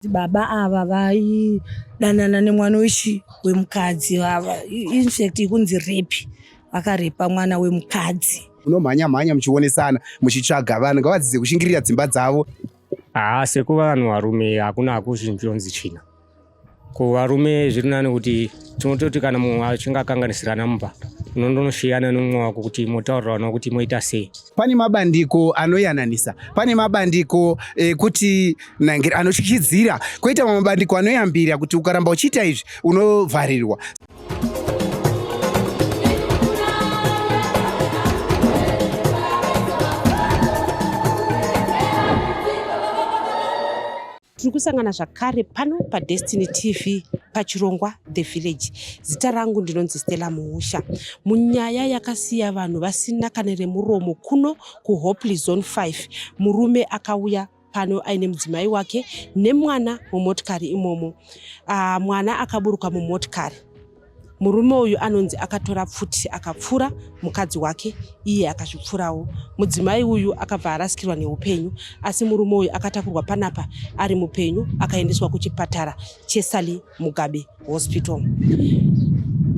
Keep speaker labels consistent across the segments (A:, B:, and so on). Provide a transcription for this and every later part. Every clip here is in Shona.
A: Baba ava vaidanana nemwana wechi wemukadzi vava infact ikunzi repi vakarepa mwana wemukadzi. Munomhanya mhanya
B: muchionesana muchitsvaga vanhu ngavadzidze kushingirira dzimba dzavo. Haa sekuva
C: vanhu varume hakuna hakuchinjonzi china kuvarume zviri nani kuti tinototi kana munhu achinge akanganisirana mumba unondonosiyana nomumwe wako kuti motaurirana kuti moita sei pane mabandiko
B: anoyananisa pane mabandiko ekuti eh, anotyityidzira koita mamwe mabandiko anoyambira kuti ukaramba uchiita izvi unovharirwa
D: Tiri kusangana zvakare pano paDestiny TV pachirongwa The Village. Zita rangu ndinonzi Stella Muusha. Munyaya yakasiya vanhu vasina kana remuromo kuno kuHopley Zone 5, murume akauya pano aine mudzimai wake nemwana mumotikari imomo. Uh, mwana akaburuka mumotikari murume uyu anonzi akatora pfuti akapfura mukadzi wake iye akazvipfurawo mudzimai uyu akabva arasikirwa neupenyu asi murume uyu akatakurwa panapa ari mupenyu akaendeswa kuchipatara chesali mugabe hospital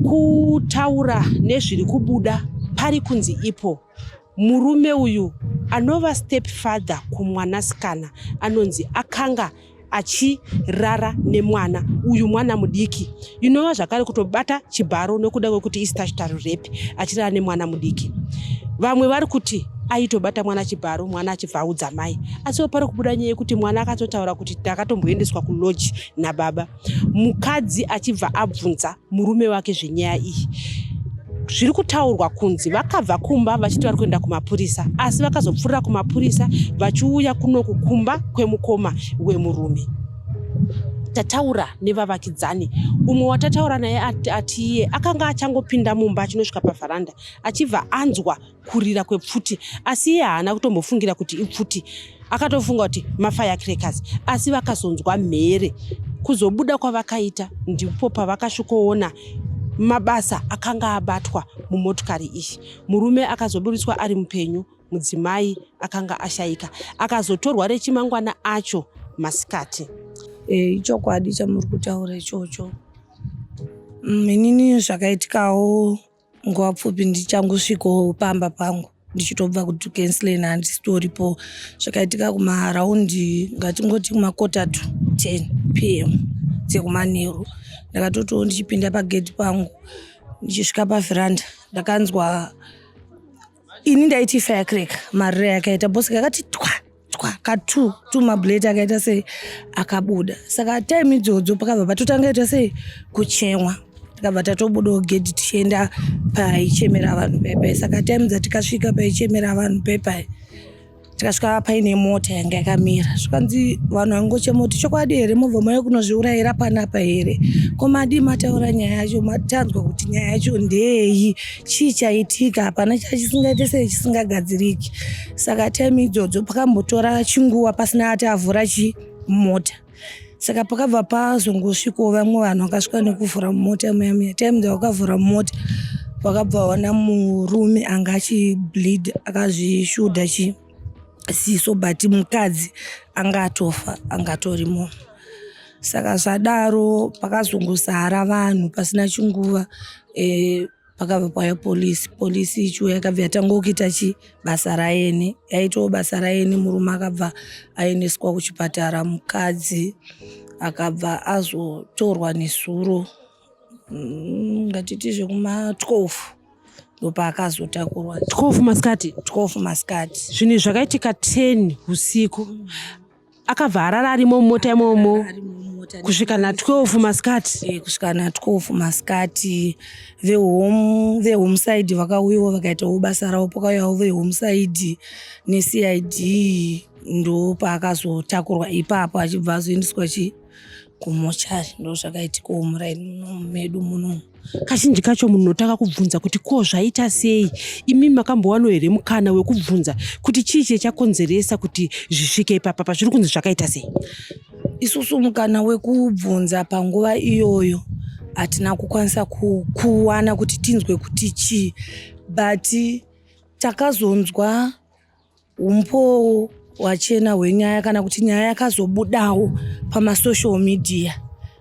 D: kutaura nezviri kubuda pari kunzi ipo Murume uyu anova stepfather kumwanasikana anonzi akanga achirara nemwana uyu mwana mudiki inova zvakare kutobata chibharo nekuda kwekuti istachitary rape achirara nemwana mudiki vamwe vari kuti aitobata mwana chibharo mwana achibva audza mai asiwo pari kubuda nyaya yekuti mwana akatotaura kuti takatomboendeswa kulodge nababa mukadzi achibva abvunza murume wake zvenyaya iyi zviri kutaurwa kunzi vakabva kumba vachiti vari kuenda kumapurisa asi vakazopfuurira kumapurisa vachiuya kunoku kumba kwemukoma wemurume tataura nevavakidzani umwe watataura naye ati iye akanga achangopinda mumba achinosvika pavharanda achibva anzwa kurira kwepfuti asi iye haana kutombofungira kuti ipfuti akatofunga kuti mafirecrackers asi vakazonzwa mhere kuzobuda kwavakaita ndipo pavakasvikoona mabasa akanga abatwa mumotokari iyi murume akazoburitswa ari mupenyu mudzimai akanga ashayika akazotorwa rechimangwana acho masikati eh,
A: ichokwadi chamuri kutaura ichocho mm, inini zvakaitikawo nguva pfupi ndichangosvikawo pamba pangu ndichitobva kuti cancelin handisitoripo zvakaitika kumaraundi ngatingoti kumakotatu 10 p m dzekumanheru ndakatotiwo ndichipinda pagedhi pangu ndichisvika pavheranda ndakanzwa ini ndaiti firecrack mariro yakaita bosika akati twa twa katu tu mabuleti akaita sei akabuda saka time idzodzo pakabva patotanga ita sei kuchemwa tikabva tatobudawo gedhi tichienda paichemera vanhu pepai saka time dzatikasvika paichemera vanhu pepai tikasvika paine mota yanga yakamira zvikanzi vanhu vangochema kuti chokwadi here mobva mauya kunozviurayira panapa here ko madii mataura nyaya yacho matanzwa kuti nyaya yacho ndeyi chii chaitika hapana chachisingaite sei chisingagadziriki saka time idzodzo pakambotora chinguva pasina ati avhura chii mota saka pakabva pazongosvikawo vamwe vanhu vakasvika nekuvhura mumota muya muya time dzavakavhura mumota vakabva vaona murume anga achibleed akazvishuda chi siso but mukadzi anga atofa anga atorimo saka zvadaro pakazongosara vanhu pasina chinguva e, pakabva pauya polisi polisi ichuo yakabva yatanga kuita chi basa rayeni yaitawo basa rayeni murume akabva aendeswa kuchipatara mukadzi akabva azotorwa nezuro mm, ngatiti zvekuma 12 ndopaakazotakurwa 12 masikati
D: 12 masikati
A: zvinhu zvakaitika
D: 10 usiku akabva arara arimo mumota imomo kusvika na 12 masikati eh, kusvika na 12
A: masikati vehome vehome side vakauyawo vakaitawo basa ravo pakauyawo vehome side necid ndo paakazotakurwa ipapo achibva azoendeswa chii kumochari ndozvakaitikawo muraini muno medu munomu kazhinji kacho
D: munhu unotanga kubvunza kuti ko zvaita sei imi makambowano here mukana wekubvunza kuti chii chie chakonzeresa kuti zvisvike ipapa pazviri kunzi zvakaita sei isusu
A: mukana wekubvunza panguva iyoyo hatina kukwanisa kuwana kuti tinzwe kuti chii but takazonzwa Umbowo wachena hwenyaya kana kuti nyaya yakazobudawo pamasocial media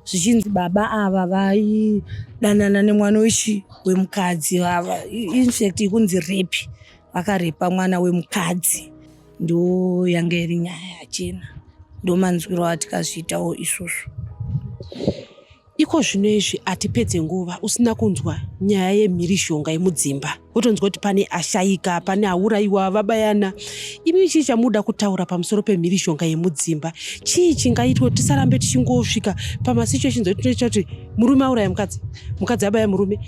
A: zvichinzi baba ava vaidanana nemwana wechi wemukadzi vava infact ikunzi repi vakarepa mwana wemukadzi ndo yanga iri nyaya yachena ndo manzwiro atikazviitawo isvozvo
D: Iko zvino izvi hatipedze nguva usina kunzwa nyaya yemhirizhonga yemudzimba wotonzwa kuti pane ashaika pane aurayiwa vabayana imi chii chamuda kutaura pamusoro pemhirizhonga yemudzimba chii chingaitwa kuti tisarambe tichingosvika pamasituations ekuti tinoita kuti murume auraya mukadzi mukadzi abaya murume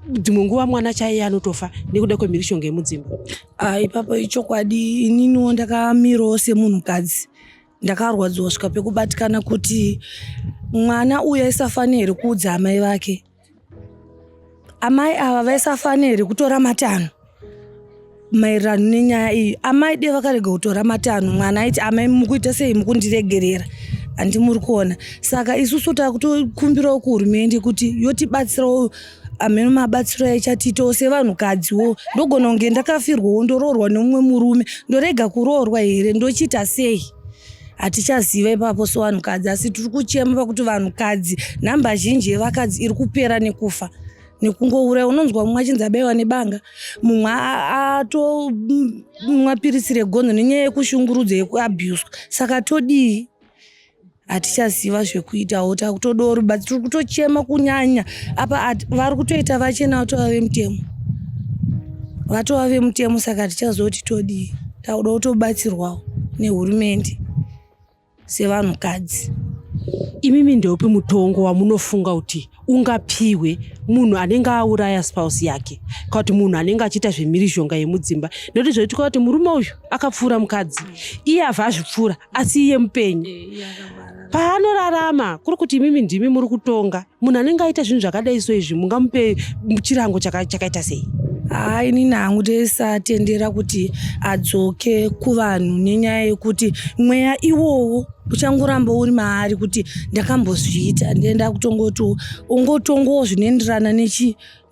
D: dzimwe nguva mwana chaiye anotofa nekuda kwemhirizhonga yemudzimba ah, ipapo
A: ichokwadi ininiwo ndakamirawo semunhukadzi ndakarwadziwa svika pekubatikana kuti mwana uyu aisafanira here kuudza amai vake amai ava vaisafanira here kutora matanho maererano nenyaya iyi amai de vakarega kutora matanho mwana aiti amai mukuita sei mukundiregerera handi muri kuona saka isusu takutokumbirawo kuhurumende kuti yotibatsirawo ameno mabatsiro aichatiitawo sevanhukadziwo ndogona kunge ndakafirwawo ndoroorwa nemumwe murume ndorega kuroorwa here ndochiita sei hatichaziva ipapo sevanhukadzi asi tiri kuchema pakuti vanhukadzi nhamba zhinji yevakadzi iri kupera nekufa nekungouraya unonzwa mumwe achinzi abaiwa nebanga mumwe atomwa piritsi regonzo nenyaya yekushungurudza yekuabuswa saka todii hatichaziva zvekuitawo takutodawo rubatsiro tiri kutochema kunyanya apa vari kutoita vachena vatova vemutemo vatova vemutemo saka hatichazoti todii takuda kutobatsirwawo nehurumende sevanhukadzi imimi
D: ndeupi mutongo wamunofunga kuti ungapiwe munhu anenge auraya spouse yake ka kuti munhu anenge achiita zvemhirizhonga yemudzimba nekuti zvoitika kuti murume uyu akapfuura mukadzi iye avha azvipfuura asi iye mupenyu eh, paanorarama kuri kuti imimi ndimi muri kutonga munhu anenge aita zvinhu zvakadai so izvi mungamupe chirango chakaita sei haa inini hangu
A: ndisatendera kuti adzoke kuvanhu nenyaya yekuti mweya iwowo uchangoramba uri maari kuti ndakambozviita ndenda kutongoti ungotongowo zvinoenderana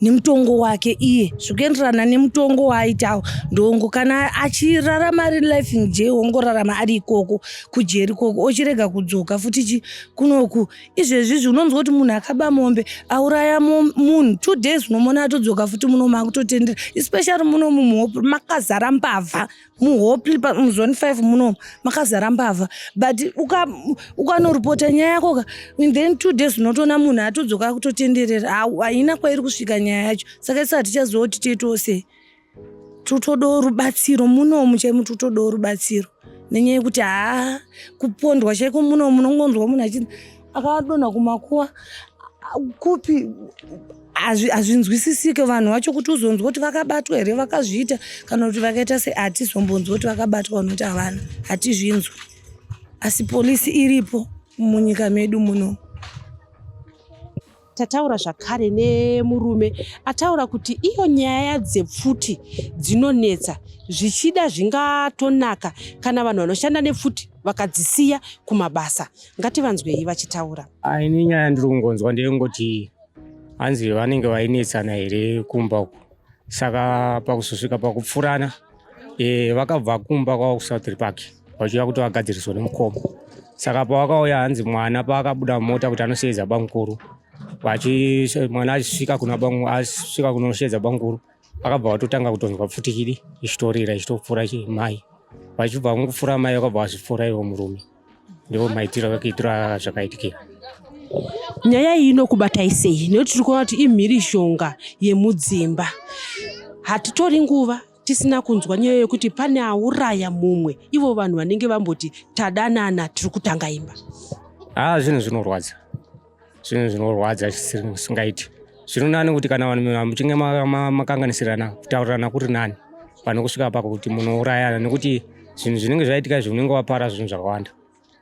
A: nemutongo wake iye zvikuenderana nemutongo waaitawo ndongo kana achirarama ari life in jail wongorarama ari ikoko kujeri koko ochirega kudzoka futi chi kunoku izvezvizvi unonzwa kuti munhu akaba mombe auraya munhu two days unomona atodzoka futi muno maakutotendera especially muno mumhopo makazara mbavha muhopli muzone five muno makazara mbavha but ukanoripota uka nyaya yako ka then two days unotoona munhu atodzoka akutotenderera haina kwairi kusvika nyaya yacho saka isi hatichaziva kuti tiitose tutodawo rubatsiro munomu chaimu tutodawo rubatsiro nenyaya yekuti haa kupondwa chaiko munomu unongonzwa munhu achii akadonha kumakuwa kupi hazvinzwisisike vanhu vacho kuti uzonzwa kuti vakabatwa here vakazviita kana kuti vakaita se hatizombonzwa kuti vakabatwa vanoti havana hatizvinzwi asi polisi iripo munyika medu muno
D: Tataura zvakare nemurume ataura kuti iyo nyaya dzepfuti dzinonetsa zvichida zvingatonaka kana vanhu vanoshanda nepfuti vakadzisiya kumabasa. Ngativanzwei vachitaura. Ini nyaya yandiri
C: kungonzwa ndeyengoti hanzi vanenge vainetsana here kumba uku saka pakuzosvika pakupfurana e, vakabva kumba kwavo kusouthry park vachiuya kuti vagadziriswa nemukoma saka pavakauya hanzi mwana paakabuda mota kuti anosheedza bamukuru mwana achisvika kuna asvika kunosheedza bamukuru akabva vatotanga kutonzwa pfutikidi ichitorira ichitopfuura mai vachibva mukupfuura mai vakabva vazvipfuura ivo murume ndivo maitiro vekuitira zvakaitikira
D: nyaya iyi inokubatai sei nekuti tiri kuona kuti imhirishonga yemudzimba hatitori nguva tisina kunzwa nyaya yekuti pane auraya mumwe ivo vanhu vanenge vamboti tadanana tiri kutanga imba haa ah, zvinhu
C: zvinorwadza zvinhu zvinorwadza zvisiri musingaiti zvirinani kuti kana vanhu muchinge makanganisirana kutaurirana kuri nani pane kusvika pako kuti munourayana nekuti zvinhu zvinenge zvaitika izvi unenge wapara zvinhu zvakawanda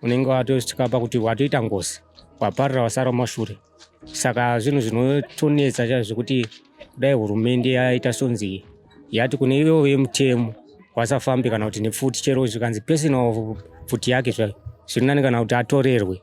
C: unenge watosvika pakuti watoita ngozi waparira wasara mashure saka zvinhu zvinotonetsa chaizvo zvekuti kudai hurumende yaita sonzi yati kune ivo vemutemo wasafambi kana kuti nepfuti chero zvikanzi personal pfuti yake zvayo zvirinani kana kuti atorerwe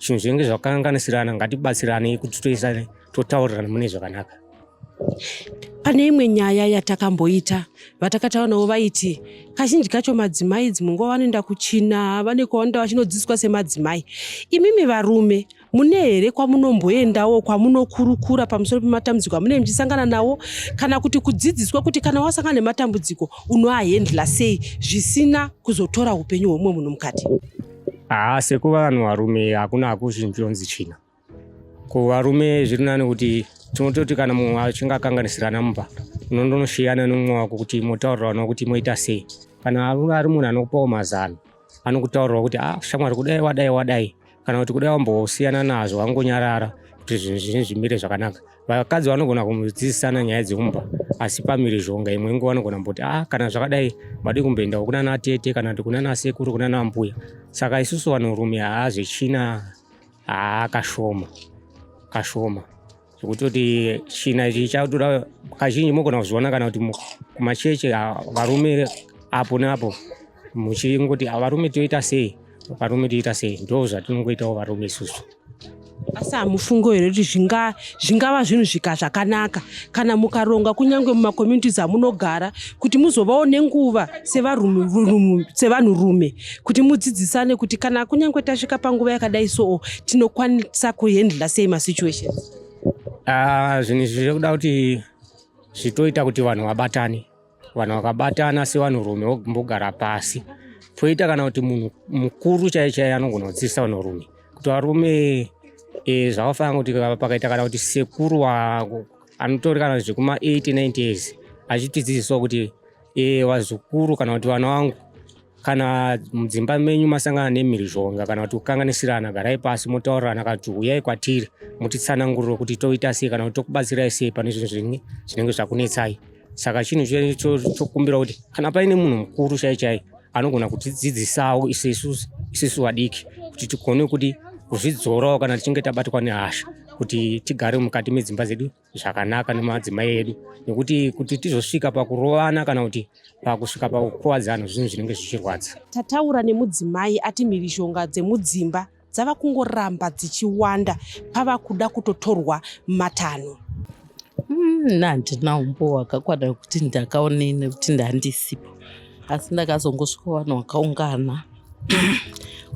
C: zvinhu zvinenge zvakanganisirana ngatibatsiranei kuti toisane totaurirana mune zvakanaka
D: pane imwe nyaya yatakamboita vatakataura navo vaiti kazhinji kacho madzimai idzi munguva vanoenda kuchina vane kwavanoenda vachinodzidziswa semadzimai imimi varume mune here kwamunomboendawo kwamunokurukura pamusoro pematambudziko amune muchisangana nawo kana kuti kudzidziswa kuti kana wasangana nematambudziko unoahendla sei zvisina kuzotora upenyu hwemumwe munhu mukati haa sekuva
C: vanhu varume hakuna hakuzvinzonzi china ko varume zviri nani kuti tinototi kana mumwe achinge akanganisirana mumba unondonosiyana nomumwe wako kuti motaurirana kuti moita sei kana ari munhu anokupawo mazano anokutaurirawo kuti ah shamwari kudai wadai wadai kana kuti kudai wambosiyana nazvo wangonyarara kuti zvinhu zvine zvimire zvakanaka vakadzi vanogona kudzidzisana nyaya dzekumba asi pamirizhonga imwe nguva vanogona kumboti a ah, kana zvakadai madii kumboendawo kunana tete kana kuti kunana sekuru kunana mbuya saka isusu vanhurume haa zvechina haa kashoma kashoma zvekuti kuti china ichi chatoda kazhinji mogona kuzviona kana kuti kumacheche varume apo neapo muchingoti varume toita sei varume toita sei ndo zvatinongoitawo varume isusu asi
D: hamufungo here kuti zvinga zvingava zvinhu zvika zvakanaka kana mukaronga kunyange mumacommunities amunogara kuti muzovawo nenguva sevanhu rume kuti mudzidzisane kuti kana kunyange tasvika panguva yakadai soo tinokwanisa kuhandla sei masituation ah,
C: zvinhu izvi zviri kuda kuti zvitoita kuti vanhu vabatane vanhu vakabatana sevanhurume vombogara pasi poita kana kuti munhu mukuru chaiye chaiye anogona kudzidzisa vanhurume kuti varume e, zvakafanira kuti pakaita kana kuti sekuru anotori kana zvekuma 8 9 years achitidzidzisawo kuti e, vazukuru kana kuti vana vangu kana mudzimba menyu masangana nemhirizhonga kana kuti kukanganisirana garai pasi motaurirana kana kuti huyai kwatiri mutitsananguriro kuti toita sei kana kuti tokubatsirai sei pane zvinhu zvinenge zvinenge zvakunetsai saka chinhu chokumbira kuti kana paine munhu mukuru chai chai anogona kutidzidzisawo isesu isesu vadiki kuti tigone kuti kuzvidzorawo kana tichinge tabatwa nehasha kuti tigare mukati medzimba dzedu zvakanaka nemadzimai edu nekuti kuti tizosvika pakurovana kana kuti pakusvika pakukuvadzana zvinhu zvinenge zvichirwadza tataura nemudzimai
D: ati mhirizhonga dzemudzimba dzava kungoramba dzichiwanda pava kuda kutotorwa matanho hmm,
E: nandina umbo hwakakwana wekuti ndakaonei nekuti ndandisipo asi ndakazongosvika vanhu vakaungana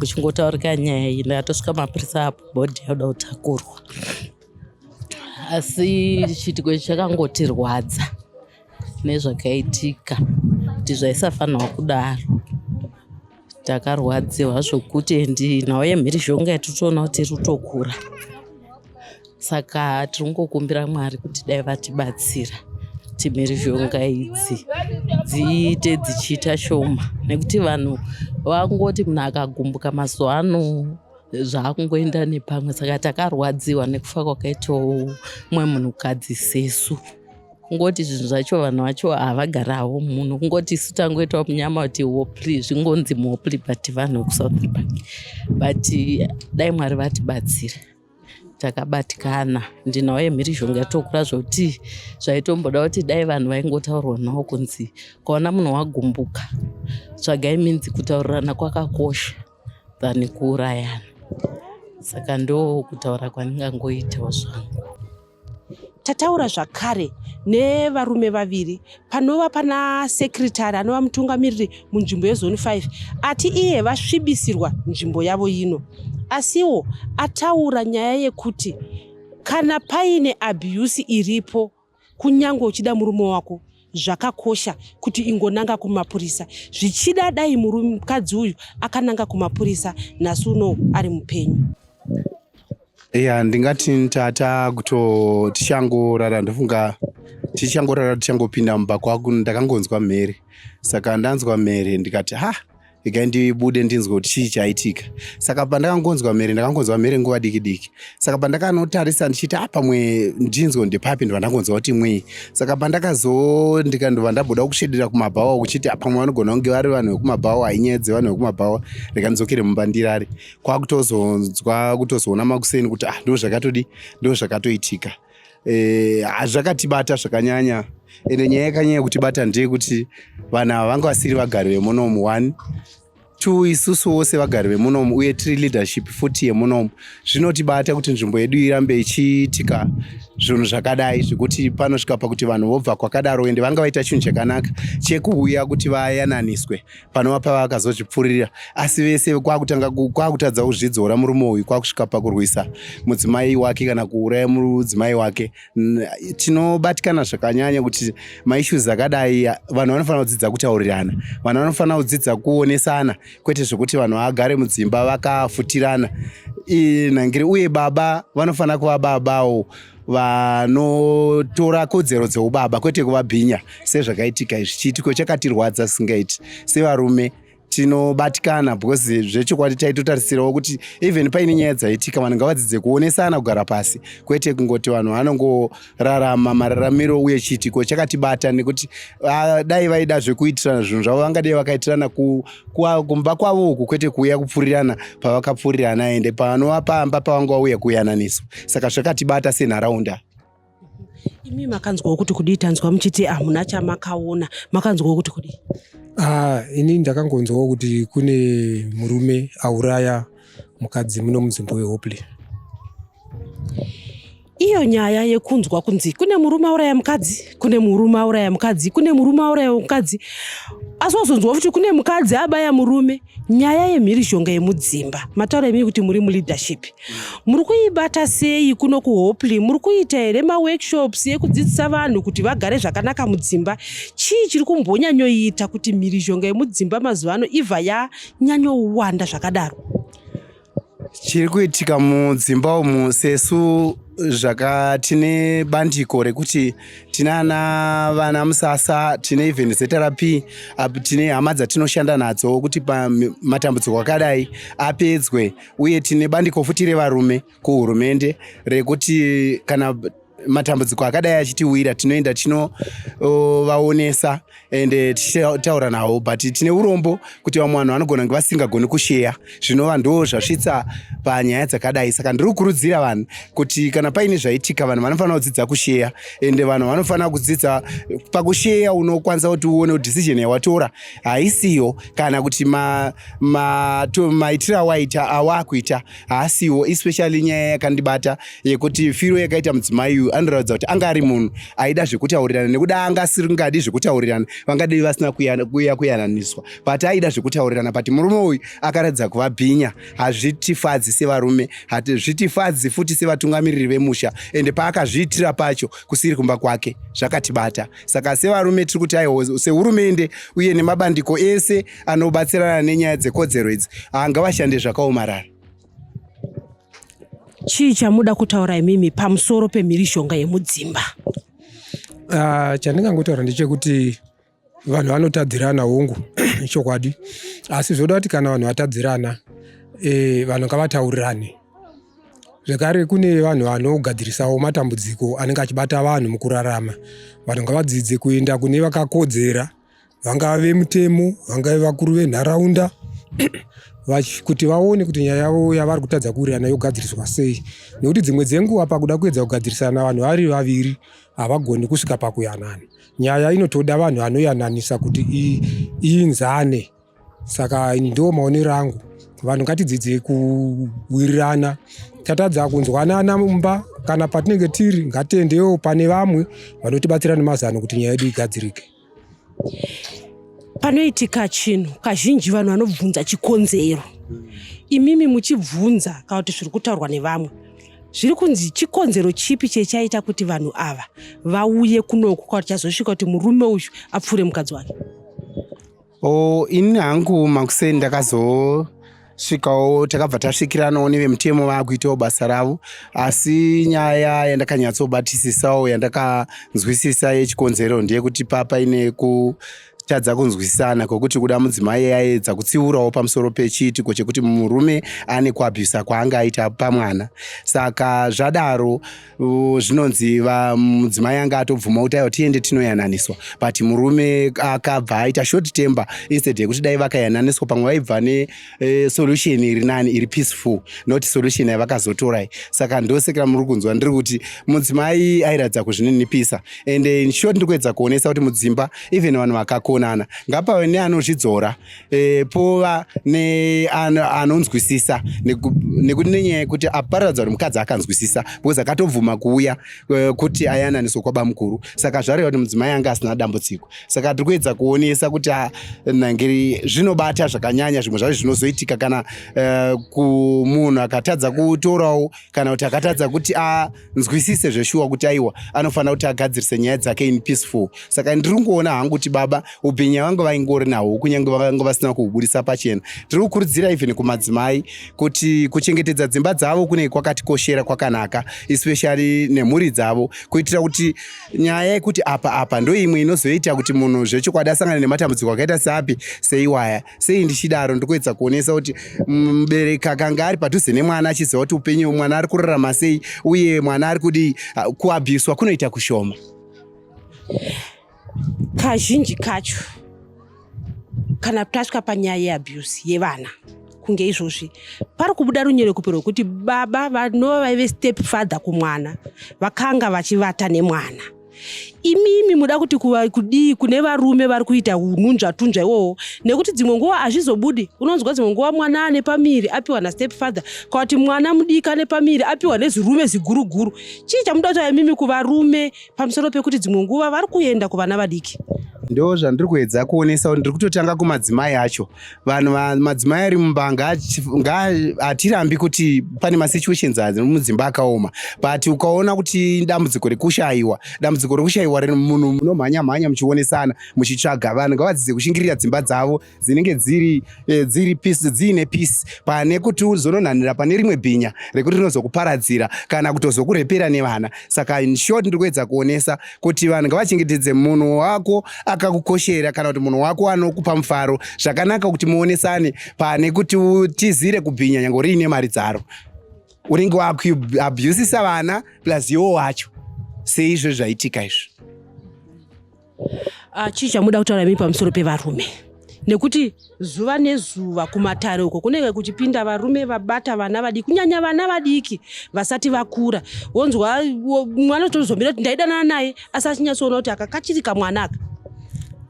E: uchingotaurika nyaya iyi ndakatosvika mapurisa apo bhodhi yauda kutakurwa asi chiitiko ichi chakangotirwadza nezvakaitika kuti zvaisafanirwa kudaro takarwadziwa zvokuti endi nhau yemhirizhonga yatitoona kuti iri kutokura saka tiri kungokumbira mwari kuti dai vatibatsira kuti mhirizhonga idzi dziite dzichiita shoma nekuti vanhu vangoti munhu akagumbuka mazuva ano zvakungoenda nepamwe saka takarwadziwa nekufa kwakaitawo mumwe munhukadzi sesu kungoti zvinhu zvacho vanhu vacho havagarawo munhu kungoti isu tangoitawo munyama kuti hopli zvingonzi muhopli but vanhu vekusouth park but dai mwari vatibatsira takabatikana ndinawo yemhirizhonga yatokura zvokuti zvaitomboda kuti dai vanhu vaingotaurwa nawo kunzi kwaona munhu wagumbuka tsvagai minzi kutaurirana kwakakosha than kuurayana saka ndo kutaura kwandingangoitawo zvangu
D: tataura zvakare nevarume vaviri panova pana sekretary anova mutungamiriri munzvimbo yezoni 5 ati iye vasvibisirwa nzvimbo yavo ino asiwo ataura nyaya yekuti kana paine abuse iripo Kunyangwe uchida murume wako zvakakosha kuti ingonanga kumapurisa zvichida dai mukadzi uyu akananga kumapurisa nhasi uno ari mupenyu ya
B: ndingati tata kuto tichangorara ndofunga tichangorara tichangopinda mumba kwako ndakangonzwa mhere saka ndanzwa mhere ndikati ha regai ndibude ndinzwe kuti chii chaitika saka pandakangonzwa mhere ndakangonzwa mhere nguva diki diki saka pandakanotarisa ndichiita ah, pamwe ndinzwe ndepapi ndova ndakonzwa kuti mwii saka pandakazo ndikandova ndabuda kushedera kumabhawa kuchiti ah, pamwe vanogona kunge vari vanhu vekumabhawa inyaya dzevanhu vekumabhawa rega ndidzokere mumba ndirari kwakutozonzwa kutozoona makuseni kuti ah ndo zvakatodi ndo zvakatoitika Eh, zvakatibata zvakanyanya ende nyaya yakanyanya kutibata ndeyekuti vanhu ava vanga vasiri vagari vemunomu one two isusu wose vagari vemunomu uye tiri leadership futi yemunomu zvinotibata kuti nzvimbo yedu irambe ichiitika zvinhu zvakadai zvekuti panosvika pakuti vanhu vobva kwakadaro ende vanga vaita chinhu chakanaka chekuuya kuti vayananiswe panova pava akazozvipfuririra asi vese kwakutanga kwakutadza kuzvidzora murume uyu kwakusvika pakurwisa mudzimai wake kana kuuraya mudzimai wake tinobatikana zvakanyanya kuti maissues akadai vanhu vanofanira kudzidza kutaurirana vanhu vanofanira kudzidza kuonesana kwete zvekuti vanhu vagare mudzimba vakafutirana nangiri uye baba vanofanira kuva babawo vanotora kodzero dzeubaba kwete kuvabhinya sezvakaitika izvi chiitiko chakatirwadza singaiti sevarume tinobatikana because zvechokwadi taitotarisirawo kuti even paine nyaya dzaitika vanhu ngavadzidze kuonesana kugara pasi kwete kungoti vanhu vanongorarama mararamiro uye chiitiko chakatibata nekuti ah, dai vaida zvekuitirana zvinhu zvavo vangadei vakaitirana ku kumba kwavo uku kwete kuuya kupfurirana pavakapfurirana ende pavanova pamba pavanga vauya kuyananiswa saka zvakatibata senharaunda
D: imi makanzwawo kuti kudii tanzwa muchiti hamuna chamakaona makanzwawo kuti kudii ah, ini
F: ndakangonzwawo kuti kune murume auraya mukadzi muno munzvimbo yehopley
D: iyo nyaya yekunzwa kunzi kune murume auraya mukadzi kune murume auraya mukadzi kune murume auraya mukadzi asi wazonzwa futi kune mukadzi abaya murume nyaya yemhirizhonga yemudzimba mataura imii kuti muri muleadership muri kuibata sei kuno kuhoply muri kuita here maworkshops yekudzidzisa vanhu kuti vagare zvakanaka mudzimba chii chiri kumbonyanyoita kuti mhirizhonga yemudzimba mazuva ano ibva yanyanyowanda zvakadaro
B: Chiri kuitika mudzimba umu sesu zvaka tine bandiko rekuti tine ana vana musasa tine even zrp apo tine hama dzatinoshanda nadzo kuti pamatambudziko akadai apedzwe uye tine bandiko futi revarume kuhurumende rekuti kana matambudziko akadai achitiwira tinoenda tinovaonesa and eh, tichitaura nawo but tine urombo kuti vamwe vanhu vanogona kunge vasingagoni kusheya zvinova ndo zvasvitsa panyaya dzakadai saka ndiri kukurudzira vanhu kuti kana paine zvaitika vanhu vanofanira kudzidza kusheya ende vanhu vanofanira kudzidza pakusheya unokwanisa kuti uone kuti decision yawatora haisiyo kana kuti maitiro ma, ma awaita awakuita haasiwo especially nyaya yakandibata yekuti firo yakaita mudzimai uyu anoratidza kuti anga ari munhu aida zvekutaurirana nekuda anga asingadi zvekutaurirana vangadei vasina kuya kuyananiswa but aida zvekutaurirana but murume uyu akaratidza kuva bhinya hazvitifadzi sevarume hazvitifadzi futi sevatungamiriri vemusha ende paakazviitira pacho kusiri kumba kwake zvakatibata saka sevarume tiri kuti aio sehurumende uye nemabandiko ese anobatsirana nenyaya dzekodzero idzi haanga vashande zvakaomarara
D: chii chamuda kutaura imimi pamusoro pemhirizhonga yemudzimba uh,
F: chandingangotaura ndechekuti vanhu vanotadzirana hongu chokwadi asi zvoda kuti kana vanhu vatadzirana e, vanhu ngavataurirane zvekare kune vanhu vanogadzirisawo matambudziko anenge achibata vanhu mukurarama vanhu ngavadzidze kuenda kune vakakodzera vangava vemutemo vangave vakuru venharaunda kuti vaone kuti nyaya yavo yavari kutadza kuwirirana yogadziriswa sei nekuti dzimwe dzenguva pakuda kuedza kugadzirisana vanhu vari vaviri havagoni kusvika pakuyanana nyaya inotoda vanhu vanoyananisa kuti iinzane saka ndo maonero angu vanhu ngatidzidze kuwirirana tatadza kunzwanana mumba kana patinenge tiri ngatiendewo pane vamwe vanotibatsira nemazano kuti nyaya yedu igadzirike
D: panoitika chinhu kazhinji vanhu vanobvunza chikonzero imimi muchibvunza kana kuti zviri kutaurwa nevamwe zviri kunzi chikonzero chipi chechaita kuti vanhu ava vauye kunoku kana kuti chazosvika kuti murume uyu apfuure mukadzi wake Oh,
B: ini hangu makuseni ndakazo svikawo takabva tasvikiranawo nevemutemo vaakuitawo basa ravo asi nyaya yandakanyatsobatisisawo yandakanzwisisa yechikonzero ndeyekuti papa ine ku tadza kunzwisisana kwekuti kuda mudzimai yaedza kutsiurawo pamusoro pechiitiko chekuti murume ane kuabhusa kwaanga aita pamwana saka zvadaro zvinonzi mudzimai anga atobvuma kuti aiwa tiende tinoyananiswa but murume akabva aita short tember instead yekuti dai vakayananiswa pamwe vaibva ne eh, solution iri nani iri peaceful not solution yavakazotorai saka ndosekera muri kunzwa ndiri kuti mudzimai airatidza kuzvininipisa and in short ndiri kuedza kuonesa kuti mudzimba even vanhu vakakonana ngapave neanozvidzora e, pova neanonzwisisa nekuti nenyaya yekuti aparadza kuti mukadzi akanzwisisa because akatobvuma kuuya e, kuti ayananiswa kwabamukuru saka zvareva kuti mudzimai anga asina dambudziko saka tiri kuedza kuonesa kuti ah, nangiri zvinobata zvakanyanya zvimwe zvacho zvinozoitika kana e, kumunhu akatadza kutorawo kana kuti akatadza kuti a ah, nzwisise zveshuwa kuti aiwa anofanira kuti agadzirise nyaya dzake in peaceful saka ndiri kungoona hangu kuti baba ubhinya vange vaingori nahwo kunyange vakange vasina kuhubudisa pachena tiri kukurudzira even kumadzimai kuti kuchengetedza dzimba dzavo kunenge kwakatikoshera kwakanaka especially nemhuri dzavo kuitira kuti nyaya yekuti apa apa ndoimwe inozoita kuti munhu zvechokwadi asangane nematambudziko akaita seapi seiwaya sei ndichidaro ndikuedza kuonesa kuti mm, mubereki akanga ari padhuze nemwana achiziva kuti upenyu mwana ari kurarama sei uye mwana ari kudii ah, kuabhuswa kunoita kushoma
D: kazhinji kacho kana tasvika panyaya yeabuse yevana kunge izvozvi pari kubuda runyerekupe rwekuti baba vanova vaive step father kumwana vakanga vachivata nemwana imimi muda kuti kuva kudii kune varume vari kuita hununzvatunzva iwowo nekuti dzimwe nguva hazvizobudi unonzwa dzimwe nguva mwana ane pamiri apiwa nastep father kana kuti mwana mudiki ane pamiri apiwa nezirume ziguruguru chii chamuda kutaura imimi kuvarume pamusoro pekuti dzimwe nguva vari kuenda kuvana vadiki ndo zvandiri
B: kuedza kuonesa kuti ndiri kutotanga kumadzimai acho vanhu madzimai ari mumba hatirambi kuti pane masituations azi mudzimba akaoma but ukaona kuti dambudziko rekushayiwa dambudziko rekushayiwa munhu munomhanya mhanya muchionesana muchitsvaga vanhu ngavadzidze kushingirira dzimba dzavo dzinenge dziri eh, dziri peace dziine peace pane kuti uzononhanira pane rimwe bhinya rekuti rinozokuparadzira kana kutozokurepera nevana saka in short ndiri kuedza kuonesa kuti vanhu ngavachengetedze munhu wako akakukoshera kana kuti munhu wako anokupa mufaro zvakanaka kuti muonesane pane kuti utizire kubhinya nyange uriine mari dzaro unenge wakuabusisa vana plus iwo wacho seizvo zvaitika izvo
D: ah, chii chamuda kutaura mii pamusoro pevarume nekuti zuva nezuva kumatare uko kunenge kuchipinda varume vabata vana vadiki kunyanya vana vadiki vasati vakura wonzwa mwana tozomira kuti ndaidanana naye asi achinyatsoona kuti aka kachiri kamwana aka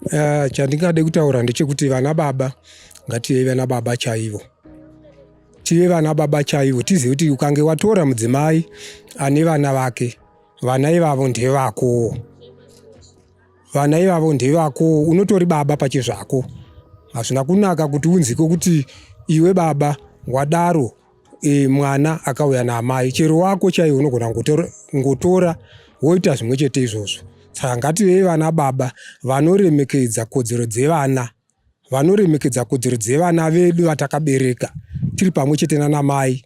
D: uh,
F: chandingade kutaura ndechekuti vana baba ngative vana baba chaivo tive vana baba chaivo tizive kuti ukange watora mudzimai ane vana vake vana ivavo ndevakowo vana ivavo ndevako unotori baba pachezvako hazvina kunaka kuti unzike kuti iwe baba wadaro e, mwana akauya naamai chero wako chaiye unogona ngotora woita zvimwe chete izvozvo saka ngativei vana baba vanoremekedza kodzero dzevana vanoremekedza kodzero dzevana vedu vatakabereka tiri pamwe chete nana mai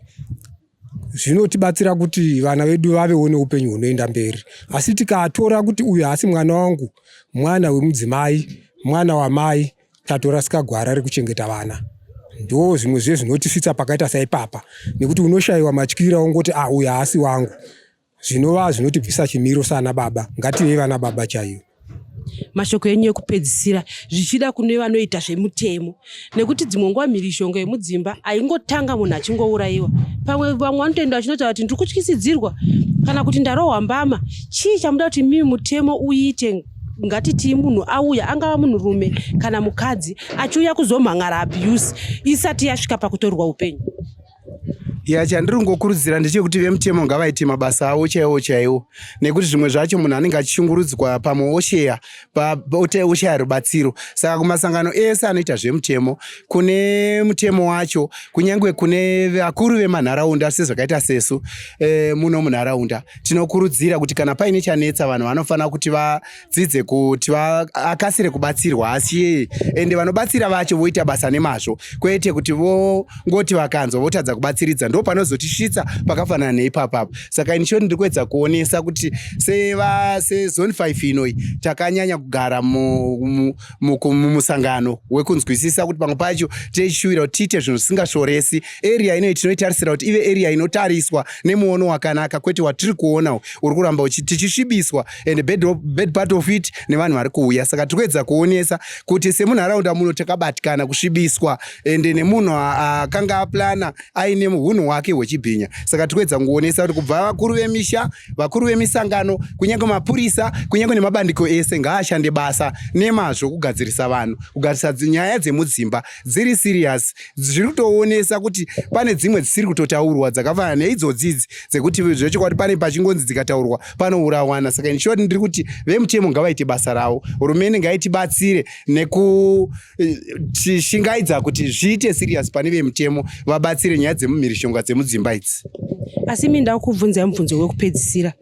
F: zvinotibatsira kuti vana vedu vavewo neupenyu hunoenda mberi asi tikatora kuti uyu haasi mwana wangu mwana wemudzimai mwana wamai tatorasika gwara rekuchengeta vana ndo zvimwe zve zvinotisvitsa pakaita saipapa nekuti unoshayiwa matyira ongoti a ah, uyu haasi wangu zvinova zvinotibvisa chimiro sana baba ngative vana baba chaiyo mashoko
D: enyu ekupedzisira zvichida kune vanoita zvemutemo nekuti dzimwe nguva mhirizhonga yemudzimba haingotanga munhu achingourayiwa pamwe vamwe vanotoenda vachinotaura kuti ndiri kutyisidzirwa kana kuti ndarohwa mbama chii chamuda kuti mimi mutemo uite ngatitii munhu auya angava munhurume kana mukadzi achiuya kuzomhan'ara abuse isati yasvika pakutorwa upenyu ya
B: chandiri kungokurudzira ndechekuti vemutemo ngavaite mabasa avo chaiwo chaiwo nekuti zvimwe zvacho munhu anenge achishungurudzwa pamwe osheya oshaya rubatsiro saka kumasangano ese anoita zvemutemo kune mutemo wacho kunyange kune vakuru vemanharaunda sezvakaita sesu e, muno munharaunda tinokurudzira kuti kana paine chanetsa vanhu vanofanira kuti va dzidze kuti akasire kubatsirwa asi ende vanobatsira vacho voita basa nemazvo kwete kuti vongoti vakanzwa votadza kubatsiridza ndo panozotisvitsa pakafanana neipapapa saka ini choti ndiri kuedza kuonesa kuti sezone 5 inoi takanyanya kugara mumusangano wekunzwisisa kuti pamwe pacho tichishuvira kuti tiite zvinhu zvisingashoresi area inoi tinoitarisira kuti ive area inotariswa nemuono wakanaka kwete watiri kuona uri kuramba tichisvibiswa and bad, bad part of it nevanhu vari kuuya saka tiri kuedza kuonesa kuti semunharaunda muno takabatikana kusvibiswa ende nemunhu akanga aplana aine hunhu hwake hwechibhinya saka tiri kuedza kuonesa kuti kubva vakuru vemisha vakuru vemisangano kunyange mapurisa kunyange nemabandiko ese ngaashande basa nemazvo kugadzirisa vanhu kugadzirisa nyaya dzemudzimba dziri serious zviri kutoonesa kuti pane dzimwe dzisiri kutotaurwa dzakafanana neidzodzidzi dzekuti zvechokwadi pane pachingonzi dzikataurwa panourawana saka inshort ndiri kuti vemutemo ngavaite basa ravo hurumende ngaitibatsire nekushingaidza eh, kuti zviite serious pane vemutemo vabatsire nyaya dzemumhirishonga dzemudzimba idzi asi mi
D: ndakubvunzai mubvunzo wekupedzisira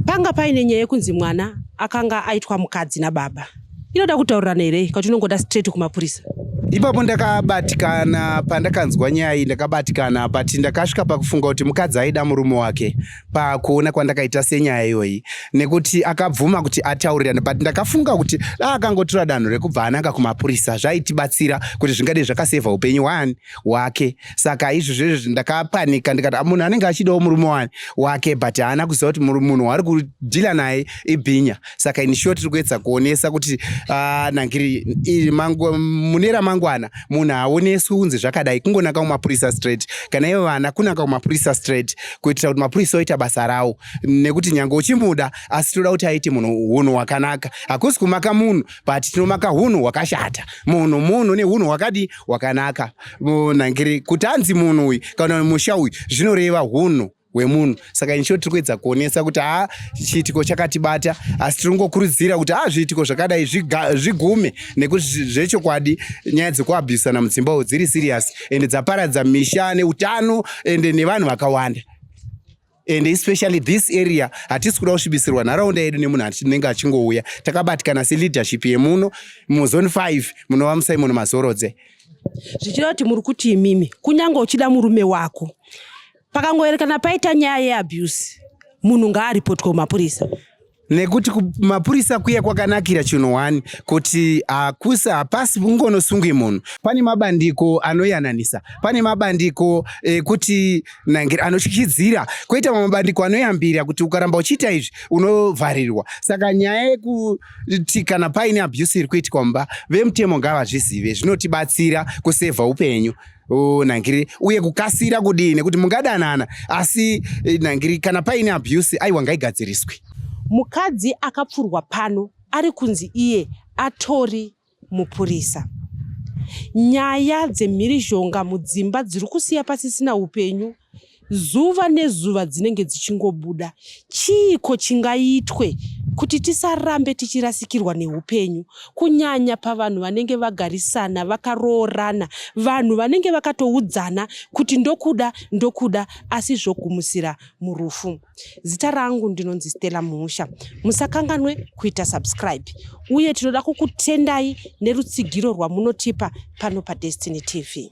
D: panga paine nyaya yekunzi mwana akanga aitwa mukadzi nababa inoda kutaurirana here ikati unongoda straight kumapurisa ipapo
B: ndakabatikana pandakanzwa nyaya iyi ndakabatikana but ndakasvika pakufunga kuti mukadzi aida murume wake pakuona kwandakaita senyaya iyoyi nekuti akabvuma kuti ataurirane but ndakafunga kuti da akangotora danho rekubva ananga kumapurisa zvaitibatsira kuti zvingadei zvakasevha upenyu wani wake saka izvozvo izvozvo ndakapanika ndikati ah, munhu anenge achidawo murume wani wake but haana kuziva kuti munhu waari kudhila naye ibhinya saka in short tiri kuedza kuonesa kuti ah, nangiri mune ramangwana munhu haaoneswi kunzi zvakadai kungonaka kumapurisa straight kana ivo vana kunaka kumapurisa straight kuitira kuti mapurisa oita basa rawo nekuti nyange uchimuda asi tinoda kuti aite munhu hunhu hwakanaka hakusi kumaka munhu but tinomaka hunhu hwakashata munhu munhu nehunhu hwakadi hwakanaka nangiri kuti anzi munhu uyu kana musha uyu zvinoreva hunhu hwemunhu saka inshort tiri kuedza kuonesa kuti ha chiitiko chakatibata asi tiri kungokurudzira kuti ha zviitiko zvakadai zvigume nekuti zvechokwadi nyaya dzekuabhusana mudzimba uyu dziri serious ende dzaparadza misha neutano ende nevanhu vakawanda and especially this area hatisi kuda kusvibisirwa nharaunda yedu nemunhu anenge achingouya takabatikana seleadership yemuno muzone 5 munova musimon mazorodze zvichida
D: kuti muri kuti imimi kunyange uchida murume wako Pakangoerekana paita nyaya yeabuse munhu ngaaripotwe kumapurisa nekuti
B: kumapurisa kuya kwakanakira chinhu one kuti hakusi hapasi kungonosungwi munhu pane mabandiko anoyananisa pane mabandiko ekuti eh, anotyidzira koita mamwe mabandiko anoyambira kuti ukaramba uchiita izvi unovharirwa saka nyaya yekuti kana paine abuse iri kuitwa mumba vemutemo ngavazvizive zvinotibatsira kusevha upenyu Oh, nangiri uye kukasira kudii nekuti mungadanana asi eh, nangiri kana paine abuse aiwa ngaigadziriswe mukadzi
D: akapfurwa pano ari kunzi iye atori mupurisa nyaya dzemhirizhonga mudzimba dziri kusiya pasisina upenyu zuva nezuva dzinenge dzichingobuda chiiko chingaitwe kuti tisarambe tichirasikirwa neupenyu kunyanya pavanhu vanenge vagarisana vakaroorana vanhu vanenge vakatoudzana kuti ndokuda ndokuda asi zvogumisira murufu zita rangu ndinonzi stella muhusha musakanganwe kuita subscribe uye tinoda kukutendai nerutsigiro rwamunotipa pano padestiny tv